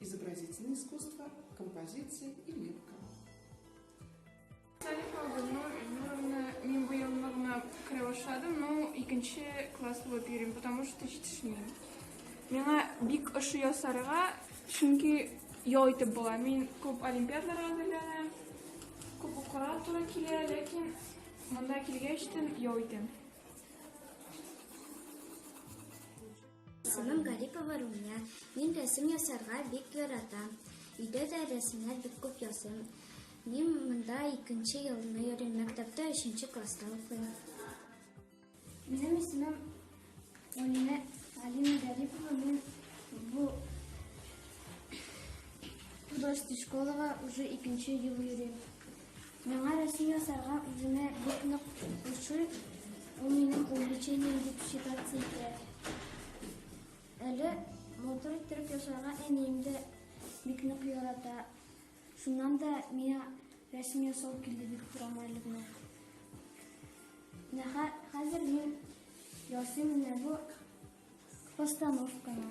Изобразительное искусство, композиция и лепка. Салифа Гульнур Ильнуровна, мин бу елны гына керә башладым, но икенче класс булып йөрим, потому что җитешмим. Миңа бик ошый ясарга, чөнки ял итеп була. Мин күп олимпиадаларга әзерләнәм, күп укырга туры килә, ләкин монда килгәч тен ял итәм. Исемем Гарипова Румия. Мин рәсем ясарга бик яратам. Өйдә дә рәсемнәр бик күп ясыйм. Мин монда икенче елны йөрим, мәктәптә өченче класста укыйм. Минем исемем Алина, Алина Гарипова. Мин бу художество школага уже икенче ел йөрим. Миңа Россия ясарга үзенә бик нык ошый, ул минем увлечением дип считаться итә. Әле матур иттереп ясарга әнием дә бик нык ярата. Шуннан да миңа рәсем ясау килде бик торам әле генә. Менә хә- хәзер мин ясыйм менә бу постановканы.